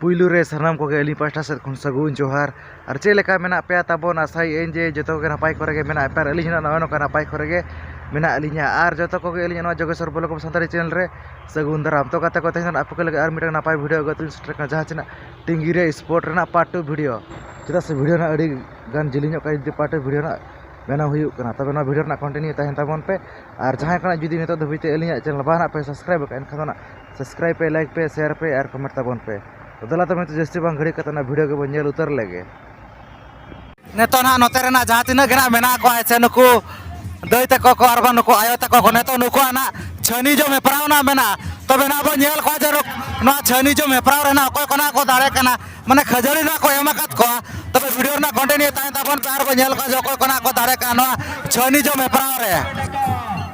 ᱯᱩᱭᱞᱩ ᱨᱮ ᱥᱟᱱᱟᱢ ᱠᱚᱜᱮ ᱟᱹᱞᱤᱧ ᱯᱟᱥᱴᱟ ᱥᱮᱫ ᱠᱷᱚᱱ ᱥᱟᱹᱜᱩᱱ ᱡᱚᱦᱟᱨ ᱟᱨ ᱪᱮᱫ ᱞᱮᱠᱟ ᱢᱮᱱᱟᱜ ᱯᱮᱭᱟ ᱛᱟᱵᱚᱱ ᱟᱥᱟᱭᱮᱫ ᱟᱹᱧ ᱡᱮ ᱡᱚᱛᱚ ᱠᱚᱜᱮ ᱱᱟᱯᱟᱭ ᱠᱚᱨᱮ ᱜᱮ ᱢᱮᱱᱟᱜ ᱯᱮᱭᱟ ᱟᱨ ᱟᱹᱞᱤᱧ ᱦᱚᱸ ᱱᱚᱜᱼᱚᱭ ᱱᱚᱝᱠᱟ ᱱᱟᱯᱟᱭ ᱠᱚᱨᱮ ᱜᱮ ᱢᱮᱱᱟᱜ ᱞᱤᱧᱟᱹ ᱟᱨ ᱡᱚᱛᱚ ᱠᱚᱜᱮ ᱟᱹᱞᱤᱧᱟᱜ ᱱᱚᱣᱟ Jogeshwar block of Santali channel ᱨᱮ ᱥᱟᱹᱜᱩᱱ ᱫᱟᱨᱟᱢ ᱛᱳ ᱜᱟᱛᱮ ᱠᱚ ᱛᱮᱦᱮᱧ ᱫᱚ ᱱᱟᱦᱟᱜ ᱟᱯᱮ ᱠᱚ ᱞᱟᱹᱜᱤᱫ ᱟᱨ ᱢᱤᱫᱴᱟᱝ ᱱᱟᱯᱟᱭ ᱵᱷᱤᱰᱭᱳ ᱟᱹᱜᱩ ᱠᱟᱛᱮᱫ ᱞᱤᱧ ᱥᱮᱴᱮᱨ ᱟᱠᱟᱱᱟ ᱡᱟᱦᱟᱸ ᱪᱮ ᱱᱟᱦᱟᱜ ᱴᱤᱝᱜᱤ ᱨᱮ ᱥᱯᱳᱨᱴ ᱨᱮᱱᱟᱜ ᱯᱟᱨᱴ ᱴᱩ ᱵᱷᱤᱰᱭᱳ ᱪᱮᱫᱟᱜ ᱥᱮ ᱵᱷᱤᱰᱭᱳ ᱱᱟᱦᱟᱜ ᱟᱹᱰᱤ ᱜᱟᱱ ᱡᱤᱞᱤᱧᱚᱜ ᱠᱟᱱᱟ ᱡᱩᱫᱤ ᱯᱟᱨᱴ ᱴᱩ ᱵᱷᱤᱰᱭᱳ ᱱᱟᱦᱟᱜ ᱵᱮᱱᱟᱣ ᱦᱩᱭᱩᱜ ᱠᱟᱱᱟ ᱛᱚᱵᱮ ᱱᱚᱣᱟ ᱵᱷᱤᱰᱭᱳ ᱨᱮᱱᱟᱜ ᱠᱚᱱᱴᱤᱱᱤᱭᱩ ᱛᱟᱦᱮᱱ ᱛᱟᱵᱚᱱ ᱯᱮ ᱟᱨ ᱡᱟᱦᱟᱸᱭ ᱠᱚ ᱱᱟᱦᱟᱜ ᱡᱩᱫᱤ ᱱᱤᱛᱚᱜ ᱫᱷᱟᱹᱵᱤᱡ ᱛᱮ ᱟᱹᱞᱤᱧᱟᱜ ᱪᱮᱱᱮᱞ ᱵᱟᱝ ᱱᱟᱦᱟᱜ ᱯᱮ ᱥᱟᱵᱥᱠᱨᱟᱭᱤᱵᱽ ᱟᱠᱟᱫᱼᱟ ᱮᱱᱠᱷᱟᱱ ᱫᱚ ᱱᱟᱦᱟᱜ ᱥᱟᱵᱥᱠᱨᱟᱭᱤᱵᱽ ᱯᱮ ᱞᱟᱭᱤᱠ ᱯᱮ ᱥᱮᱭᱟᱨ ᱯᱮ ᱟᱨ ᱠᱚᱢᱮᱱᱴ ᱛᱟᱵᱚᱱ ᱯᱮ ᱫᱮᱞᱟ ᱛᱚᱵᱮ ᱱᱤᱛᱚᱜ ᱡᱟᱹᱥᱛᱤ ᱵᱟᱝ ᱜᱷᱟᱹᱲᱤᱠ ᱠᱟᱛᱮᱫ ᱚᱱᱟ ᱵᱷᱤᱰᱤᱭᱳ ᱜᱮᱵᱚᱱ ᱧᱮᱞ ᱩᱛᱟᱹᱨ ᱞᱮᱜᱮ ᱱᱤᱛᱚᱜ ᱱᱟᱦᱟᱜ ᱱᱚᱛᱮ ᱨᱮᱱᱟᱜ ᱡᱟᱦᱟᱸ ᱛᱤᱱᱟᱹᱜ ᱜᱮ ᱱᱟᱦᱟᱜ ᱢᱮᱱᱟᱜ ᱠᱚᱣᱟ ᱥᱮ ᱱᱩᱠᱩ ᱫᱟᱹᱭ ᱛᱟᱠᱚ ᱠᱚ ᱟᱨ ᱵᱟᱝ ᱱᱩᱠᱩ ᱟᱭᱳ ᱛᱟᱠᱚ ᱠᱚ ᱱᱤᱛᱚᱜ ᱱᱩᱠᱩᱣᱟᱜ ᱱᱟᱦᱟᱜ ᱪᱷᱟᱹᱱᱤ ᱡᱚᱢ ᱦᱮᱯᱨᱟᱣ ᱱᱟᱦᱟᱜ ᱢᱮᱱᱟᱜᱼᱟ ᱛᱚᱵᱮ ᱱᱟᱦᱟᱜ ᱵᱚᱱ ᱧᱮᱞ ᱠᱚᱣᱟ ᱡᱮ ᱱᱚᱣᱟ ᱪᱷᱟᱹᱱᱤ ᱡᱚᱢ ᱦᱮᱯᱨᱟᱣ ᱨᱮ ᱱᱟᱦᱟᱜ ᱚᱠᱚᱭ ᱠᱚ ᱱᱟᱦᱟᱜ ᱠᱚ ᱫᱟᱲᱮ ᱠᱟᱱᱟ ᱢᱟᱱᱮ ᱠᱷᱟᱹᱡᱟᱹᱲᱤ ᱱᱟᱦᱟᱜ ᱠᱚ ᱮᱢ ᱟᱠᱟᱫ ᱠᱚᱣᱟ ᱛᱚᱵᱮ ᱵᱷᱤᱰᱤᱭᱳ ᱨᱮᱱᱟᱜ ᱠᱚᱱᱴᱤᱱᱤᱭᱩ ᱛᱟᱦᱮᱱ ᱛᱟᱵᱚᱱ ᱯᱮ ᱟᱨ ᱵᱚᱱ ᱧᱮᱞ ᱠᱚᱣᱟ ᱡᱮ ᱚᱠᱚᱭ ᱠᱚ ᱱᱟᱦᱟᱜ ᱠᱚ ᱫᱟᱲᱮ ᱠᱟᱱᱟ ᱱᱚᱣᱟ ᱪᱷᱟᱹᱱᱤ ᱡᱚᱢ ᱦᱮᱯᱨᱟᱣ ᱨᱮ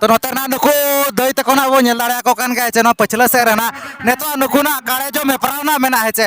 ᱛᱚ ᱱᱚᱛᱮ ᱨᱮᱱᱟᱜ ᱱᱩᱠᱩ ᱫᱟᱹᱭ ᱛᱟᱠᱚ ᱱᱟᱜ ᱵᱚᱱ ᱧᱮᱞ ᱫᱟᱲᱮᱭᱟᱠᱚ ᱠᱟᱱ ᱜᱮᱭᱟ ᱡᱮ ᱱᱚᱣᱟ ᱯᱟᱹᱪᱷᱞᱟᱹ ᱥᱮᱫ ᱨᱮᱱᱟᱜ ᱱᱤᱛᱚᱜ ᱱᱩᱠᱩᱱᱟᱜ ᱠᱟᱲᱮ ᱡᱚᱢ ᱦᱮᱯᱨᱟᱣ ᱱᱟᱜ ᱢᱮᱱᱟᱜᱼᱟ ᱦᱮᱸ ᱪᱮ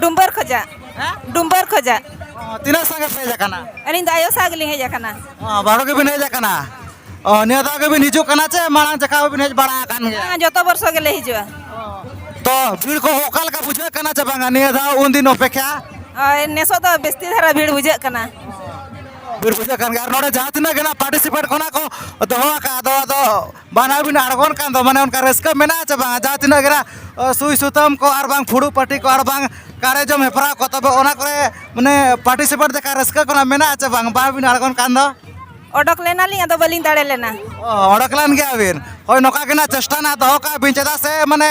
ᱰᱩᱢᱵᱟᱨ ᱠᱷᱚᱡᱟ ᱰᱩᱢᱵᱟᱨ ᱠᱷᱚᱡᱟ ᱛᱤᱱᱟᱹᱜ ᱥᱟᱸᱜᱮ ᱯᱮ ᱦᱮᱡ ᱟᱠᱟᱱᱟ ᱟᱹᱞᱤᱧ ᱫᱚ ᱟᱭᱳ ᱥᱟᱶ ᱜᱮᱞᱤᱧ ᱦᱮᱡ ᱟᱠᱟᱱᱟ ᱵᱟᱨᱚ ᱜᱮᱵᱤᱱ ᱦᱮᱡ ᱟᱠᱟᱱᱟ ᱚ ᱱᱤᱭᱟᱹ ᱫᱷᱟᱣ ᱜᱮᱵᱤᱱ ᱦᱤᱡᱩᱜ ᱠᱟᱱᱟ ᱪᱮ ᱢᱟᱲᱟᱝ ᱡᱟᱠᱟ ᱵᱤᱱ ᱦᱮᱡ ᱵᱟᱲᱟ ᱟᱠᱟᱱ ᱜᱮᱭᱟ ᱡᱚᱛᱚ ᱵᱚᱨᱥᱚ ᱜᱮᱞᱮ ᱦᱤᱡᱩᱜᱼᱟ ᱛᱚ ᱵᱷᱤᱲ ᱠᱚ ᱚᱠᱟ ᱞᱮᱠᱟ ᱵᱩᱡᱷᱟᱹᱜ ᱠᱟᱱᱟ ᱪᱮ ᱵᱟᱝᱟ ᱱᱤᱭᱟᱹ ᱫᱷᱟᱣ ᱩᱱ ᱫᱤᱱ ᱚᱯᱮᱠᱷᱟ ᱦᱳᱭ ᱱᱮᱥᱚᱜ ᱫᱚ ᱵᱮᱥᱛᱤ ᱫᱷᱟᱨᱟ ᱵᱷᱤᱲ ᱵᱩᱡᱷᱟᱹᱜ ᱠᱟᱱᱟ ᱵᱷᱤᱲ ᱵᱩᱡᱷᱟᱹᱜ ᱠᱟᱱ ᱜᱮᱭᱟ ᱟᱨ ᱱᱚᱰᱮ ᱡᱟᱦᱟᱸ ᱛᱤᱱᱟᱹᱜ ᱜᱮ ᱱᱟᱜ ᱯᱟᱨᱴᱤᱥᱤᱯᱮᱴ ᱠᱷᱚᱱᱟᱜ ᱠᱚ ᱫᱚᱦᱚ ᱟᱠᱟᱫ ᱫᱚ ᱟᱫᱚ ᱵᱟᱱᱟ ᱵᱤᱱ ᱟᱬᱜᱚᱱ ᱠᱟᱱ ᱫᱚ ᱢᱟᱱᱮ ᱚᱱᱠᱟ ᱨᱟᱹᱥᱠᱟᱹ ᱢᱮᱱᱟᱜᱼᱟ ᱪᱮ ᱵᱟᱝ ᱡᱟᱦᱟᱸ ᱛᱤᱱᱟᱹᱜ ᱜᱮ ᱱᱟᱜ ᱥᱩᱭ ᱥᱩᱛᱟᱹᱢ ᱠᱚ ᱟᱨ ᱵᱟᱝ ᱯᱷᱩᱲᱩᱜ ᱯᱟᱹᱴᱤ ᱠᱚ ᱟᱨ ᱵᱟᱝ ᱠᱟᱲᱮ ᱡᱚᱢ ᱦᱮᱯᱨᱟᱣ ᱠᱚ ᱛᱚᱵᱮ ᱚᱱᱟ ᱠᱚᱨᱮ ᱢᱟᱱᱮ ᱯᱟᱨᱴᱤᱥᱤᱯᱮᱴ ᱞᱮᱠᱟ ᱨᱟᱹᱥᱠᱟᱹ ᱠᱚ ᱱᱟᱜ ᱢᱮᱱᱟᱜᱼᱟ ᱪᱮ ᱵᱟᱝ ᱵᱟᱝ ᱵᱤᱱ ᱟᱬᱜᱚᱱ ᱠᱟᱱ ᱫᱚ ᱚᱰᱚᱠ ᱞᱮᱱᱟᱞᱤᱧ ᱟᱫᱚ ᱵᱟᱹᱞᱤᱧ ᱫᱟᱲᱮ ᱞᱮᱱᱟ ᱚᱰᱚᱠ ᱞᱮᱱ ᱜᱮᱭᱟ ᱵᱤᱱ ᱦᱳᱭ ᱱᱚᱝᱠᱟ ᱜᱮ ᱱᱟᱜ ᱪᱮᱥᱴᱟ ᱱᱟᱜ ᱫᱚᱦᱚ ᱠᱟᱜ ᱵᱤᱱ ᱪᱮᱫᱟᱜ ᱥᱮ ᱢᱟᱱᱮ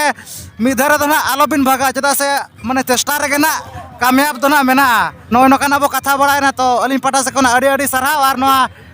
ᱢᱤᱫ ᱫᱷᱟᱨᱮ ᱫᱚ ᱱᱟᱜ ᱟᱞᱚ ᱵᱤᱱ ᱵᱷᱟᱜᱟ ᱪᱮᱫᱟᱜ ᱥᱮ ᱢᱟᱱᱮ ᱪᱮᱥᱴᱟ ᱨᱮᱜᱮ ᱱᱟᱜ ᱠᱟᱢᱭᱟᱵ ᱫᱚ ᱱᱟᱜ ᱢᱮᱱᱟᱜᱼᱟ ᱱᱚᱜᱼᱚᱭ ᱱᱚᱝᱠᱟᱱᱟᱜ ᱵᱚᱱ ᱠᱟᱛᱷᱟ ᱵᱟᱲᱟᱭᱮᱱᱟ ᱛᱚ ᱟᱹᱞᱤᱧ ᱯᱟᱦᱴᱟ ᱥᱮᱫ ᱠᱷᱚᱱᱟᱜ ᱟᱹᱰᱤ ᱟᱹᱰᱤ ᱥᱟᱨᱦᱟᱣ ᱟᱨ ᱱᱚᱣᱟ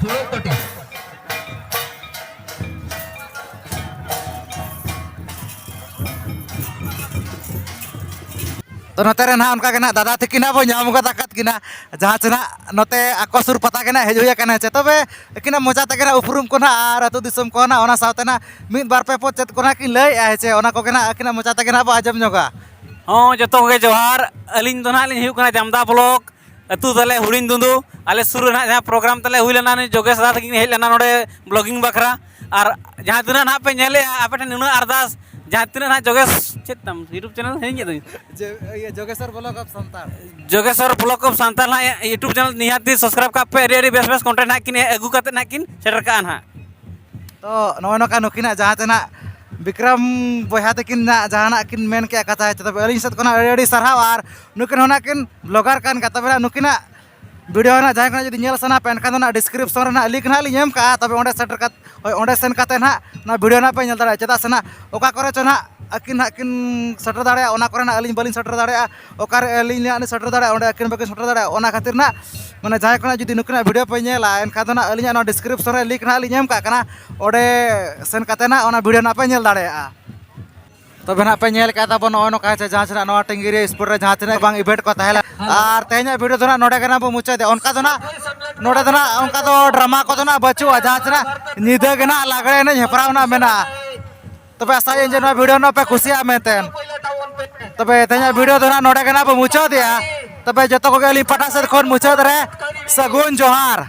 ತುಳುತ್ತೊಟ್ಟಿ ᱛᱚ ᱱᱚᱛᱮ ᱨᱮ ᱱᱟᱦᱟᱜ ᱚᱱᱠᱟ ᱜᱮ ᱱᱟᱦᱟᱜ ᱫᱟᱫᱟ ᱛᱟᱹᱠᱤᱱ ᱱᱟᱦᱟᱜ ᱵᱚ ᱧᱟᱢ ᱜᱚᱫ ᱟᱠᱟᱫ ᱠᱤᱱᱟ ᱡᱟᱦᱟᱸ ᱪᱮ ᱱᱟᱦᱟᱜ ᱱᱚᱛᱮ ᱟᱠᱚ ᱥᱩᱨ ᱯᱟᱛᱟ ᱜᱮ ᱱᱟᱦᱟᱜ ᱦᱮᱡ ᱦᱩᱭ ᱟᱠᱟᱱᱟ ᱪᱮ ᱛᱚᱵᱮ ᱟᱹᱠᱤᱱᱟᱜ ᱢᱚᱡᱟ ᱛᱮᱜᱮ ᱱᱟᱦᱟᱜ ᱩᱯᱨᱩᱢ ᱠᱚ ᱱᱟᱦᱟᱜ ᱟᱨ ᱟᱹᱛᱩ ᱫᱤᱥᱚᱢ ᱠᱚ ᱱᱟᱦᱟᱜ ᱚᱱᱟ ᱥᱟᱶᱛᱮ ᱱᱟᱦᱟᱜ ᱢᱤᱫ ᱵᱟᱨ ᱯᱮ ᱯᱚᱫ ᱪᱮᱫ ᱠᱚ ᱱᱟᱦᱟᱜ ᱠᱤᱱ ᱞᱟᱹᱭᱮᱫᱼᱟ ᱦᱮᱸ ᱪᱮ ᱚᱱᱟ ᱠᱚᱜᱮ ᱱᱟᱦᱟᱜ ᱟᱹᱠᱤᱱᱟᱜ ᱢᱚᱪᱟ ᱛᱮᱜᱮ ᱱᱟᱦᱟᱜ ᱵᱚ ᱟᱸᱡᱚᱢ ᱧᱚᱜᱟ ᱦᱚᱸ ᱡᱚᱛᱚ ᱠᱚᱜᱮ ᱡᱚᱦᱟᱨ ᱟᱹᱞᱤᱧ ᱫᱚ ᱱᱟᱦᱟᱜ ᱞᱤᱧ ᱦᱩᱭᱩᱜ ᱠᱟᱱᱟ ᱡᱟᱢᱫᱟ ᱵᱞᱚᱠ ᱟᱹᱛᱩ ᱛᱟᱞᱮ ᱦᱩᱲᱤᱧ ᱫᱩᱸᱫᱩ ᱟᱞᱮ ᱥᱩᱨ ᱨᱮ ᱱᱟᱦᱟᱜ ᱡᱟᱦᱟᱸ ᱯᱨᱳᱜᱨᱟᱢ ᱛᱟᱞᱮ ᱦᱩᱭ ᱞᱮᱱᱟ ᱱᱩᱭ ᱡᱳᱜᱮᱥ ᱫᱟ ᱛᱟᱹᱠᱤᱱ ᱦᱮᱡ ᱞᱮᱱᱟ ᱱᱚᱰᱮ ᱵᱞᱚᱜᱤᱝ ᱵᱟᱠᱷᱨᱟ ᱟᱨ ᱡᱟᱦᱟᱸ ᱛᱤᱱᱟᱹᱜ ᱱᱟᱦᱟᱜ ᱯᱮ ᱧᱮᱞᱮᱜᱼᱟ ᱟᱯᱮ ᱴᱷᱮᱱ ᱱᱩᱱᱟᱹᱜ ᱟᱨᱫᱟᱥ ᱡᱟᱦᱟᱸ ᱛᱤᱱᱟᱹᱜ ᱱᱟᱦᱟᱜ ᱡᱳᱜᱮᱥ ᱪᱮᱫ ᱛᱟᱢ ᱤᱭᱩᱴᱩᱵᱽ ᱪᱮᱱᱮᱞ ᱦᱤᱲᱤᱧ ᱠᱮᱫ ᱫᱚᱧ Jogeswar blog of Santal Jogeswar blog of Santal ᱱᱟᱦᱟᱜ ᱤᱭᱩᱴᱩᱵᱽ ᱪᱮᱱᱮᱞ ᱱᱤᱦᱟᱹᱛ ᱜᱮ ᱥᱟᱵᱥᱠᱨᱟᱭᱤᱵᱽ ᱠᱟᱜ ᱯᱮ ᱟᱹᱰᱤ ᱟᱹᱰᱤ ᱵᱮᱥ ᱵᱮᱥ ᱠᱚᱱᱴᱮᱱᱴ ᱱᱟᱦᱟᱜ ᱠᱤᱱ ᱟᱹᱜᱩ ᱠᱟᱛᱮ ᱱᱟᱦᱟᱜ ᱠᱤᱱ ᱥᱮᱴᱮᱨ ᱠᱟᱜᱼᱟ ᱱᱟᱦᱟᱜ ᱛᱚ ᱱᱚᱜᱼᱚᱭ ᱱᱚᱝᱠᱟ ᱱᱩᱠᱤᱱᱟᱜ ᱡᱟᱦᱟᱸ ᱛᱮᱱᱟᱜ ᱵᱤᱠᱨᱚᱢ ᱵᱚᱭᱦᱟ ᱛᱟᱹᱠᱤᱱ ᱱᱟᱜ ᱡᱟᱦᱟᱱᱟᱜ ᱠᱤᱱ ᱢᱮᱱ ᱠᱮᱜᱼᱟ ᱠᱟᱛᱷᱟ ᱛᱚᱵᱮ ᱟᱹᱞᱤᱧ ᱥᱮᱫ ᱠᱷᱚᱱᱟᱜ ᱟᱹᱰᱤ ᱟᱹᱰᱤ ᱥᱟᱨᱦᱟᱣ ᱟᱨ ᱱᱩᱠᱤᱱ ᱦᱚᱸ ᱱᱟᱠᱤᱱ ᱵᱞᱚᱜᱟᱨ ᱠᱟᱱ ᱜᱮᱭᱟ ᱛᱚᱵᱮ ᱱᱩᱠᱤᱱᱟᱜ ᱵᱷᱤᱰᱤᱭᱳ ᱦᱟᱸᱜ ᱡᱟᱦᱟᱸᱭ ᱠᱚ ᱡᱩᱫᱤ ᱧᱮᱞ ᱥᱟᱱᱟ ᱯᱮ ᱮᱱᱠᱷᱟᱱ ᱫᱚ ᱱᱟᱜ ᱰᱤᱥᱠᱨᱤᱯᱥᱚᱱ ᱨᱮ ᱱᱟᱜ ᱞᱤᱝᱠ ᱱᱟᱜ ᱞᱤᱧ ᱮᱢ ᱠᱟᱜᱼᱟ ᱛᱚᱵᱮ ᱚᱸᱰᱮ ᱥᱮᱴᱮᱨ ᱠᱟᱛᱮ ᱦᱳᱭ ᱚᱸᱰᱮ ᱥᱮᱱ ᱠᱟᱛᱮ ᱱᱟᱜ ᱱᱚᱣᱟ ᱵᱷᱤᱰᱤᱭᱳ ᱱᱟᱜ ᱯᱮ ᱧᱮᱞ ᱫᱟᱲᱮᱭᱟᱜᱼᱟ ᱪᱮᱫᱟᱜ ᱥᱮ ᱱᱟᱜ ᱚᱠᱟ ᱠᱚᱨᱮ ᱪᱚ ᱱᱟᱜ ᱟᱹᱠᱤᱱ ᱱᱟᱜ ᱠᱤᱱ ᱥᱮᱴᱮᱨ ᱫᱟᱲᱮᱭᱟᱜᱼᱟ ᱚᱱᱟ ᱠᱚᱨᱮ ᱱᱟᱜ ᱟᱹᱞᱤᱧ ᱵᱟᱹᱞᱤᱧ ᱥᱮᱴᱮᱨ ᱫᱟᱲᱮᱭᱟᱜᱼᱟ ᱚᱠᱟᱨᱮ ᱟᱹᱞᱤᱧ ᱱᱟᱜ ᱞᱤᱧ ᱥᱮᱴᱮᱨ ᱫᱟᱲᱮᱭᱟᱜᱼᱟ ᱚᱸᱰᱮ ᱟᱹᱠᱤᱱ ᱵᱟᱹᱠᱤᱱ ᱥᱮᱴᱮᱨ ᱫᱟᱲᱮᱭᱟᱜᱼᱟ ᱚᱱᱟ ᱠᱷᱟᱹᱛᱤᱨ ᱱᱟᱜ ᱢᱟᱱᱮ ᱡᱟᱦᱟᱸᱭ ᱠᱚ ᱱᱟᱜ ᱡᱩᱫᱤ ᱱᱩᱠᱤᱱᱟᱜ ᱵᱷᱤᱰᱤᱭᱳ ᱯᱮ ᱧᱮᱞᱟ ᱮᱱᱠᱷᱟᱱ ᱫᱚ ᱱᱟᱜ ᱟᱹᱞᱤᱧᱟᱜ ᱱᱚᱣᱟ ᱰᱤᱥᱠᱨᱤᱯᱥᱚᱱ ᱨᱮ ᱞᱤᱝᱠ ᱱᱟᱜ ᱞᱤᱧ ᱮᱢ ᱠᱟᱜ ᱠᱟᱱᱟ ᱚᱸᱰᱮ ᱥᱮᱱ ᱠᱟᱛᱮ ᱱᱟᱜ ᱚᱱᱟ ᱵᱷᱤᱰᱤᱭᱳ ᱱᱟᱜ ᱯᱮ ᱧᱮᱞ ᱫᱟᱲᱮᱭᱟᱜᱼᱟ ᱛᱚᱵᱮ ᱱᱟᱜ ᱯᱮ ᱧᱮᱞ ᱠᱟᱜ ᱛᱟᱵᱚᱱ ᱱᱚᱜᱼᱚᱭ ᱱᱚᱝᱠᱟ ᱪᱮ ᱡᱟᱦᱟᱸ ᱥᱮᱱᱟᱜ ᱱᱚᱣᱟ ᱴᱤᱝᱜᱤ ᱨᱮ ᱥᱯᱳᱨᱴ ᱨᱮ ᱡᱟᱦᱟᱸ ᱛᱤᱱᱟᱹᱜ ᱵᱟᱝ ᱤᱵᱷᱮᱱᱴ ᱠᱚ ᱛᱟᱦᱮᱸ ᱞᱮᱱᱟ ᱟᱨ ᱛᱮᱦᱮᱧᱟᱜ ᱵᱷᱤᱰᱤᱭᱳ ᱫᱚ ᱱᱟᱜ ᱱᱚᱰᱮ ᱜᱮ ᱱᱟᱜ ᱵᱚ ᱢᱩᱪᱟᱹᱫᱮᱫ ᱚᱱᱠᱟ ᱫᱚ ᱱᱟᱜ ᱱᱚᱰᱮ ᱫᱚ ᱱᱟᱜ ᱚᱱᱠᱟ ᱫᱚ ᱰᱨᱟᱢᱟ ᱠᱚᱫᱚ ᱱᱟᱜ ᱵᱟᱹᱪᱩᱜᱼᱟ ᱡᱟᱦᱟᱸ ᱥᱮᱱᱟᱜ ᱧᱤᱫᱟᱹ ᱜᱮ ᱱᱟᱜ ᱞᱟᱜᱽᱲᱮ ᱮᱱᱮᱡ ᱦᱮᱯᱨᱟᱣ ᱱᱟᱜ ᱢᱮᱱᱟᱜᱼᱟ ᱛᱚᱵᱮ ᱟᱥᱟᱭᱟᱹᱧ ᱡᱮ ᱱᱚᱣᱟ ᱵᱷᱤᱰᱤᱭᱳ ᱱᱟᱜ ᱯᱮ ᱠᱩᱥᱤᱭᱟᱜᱼᱟ ᱢᱮᱱᱛᱮ ᱛᱚᱵᱮ ᱛᱮᱦᱮᱧᱟᱜ ᱵᱷᱤᱰᱤᱭᱳ ᱫᱚ ᱱᱟᱜ ᱱᱚᱰᱮ ᱜᱮ ᱱᱟᱜ ᱵᱚ ᱢᱩᱪᱟᱹᱫᱮᱜᱼᱟ ᱛᱚᱵᱮ ᱡᱚᱛᱚ ᱠᱚᱜᱮ ᱟᱹᱞᱤᱧ ᱯᱟᱦᱴᱟ ᱥᱮᱫ ᱠᱷᱚᱱ ᱢᱩᱪᱟᱹᱫ ᱨᱮ ᱥᱟᱹᱜᱩᱱ ᱡᱚᱦᱟᱨ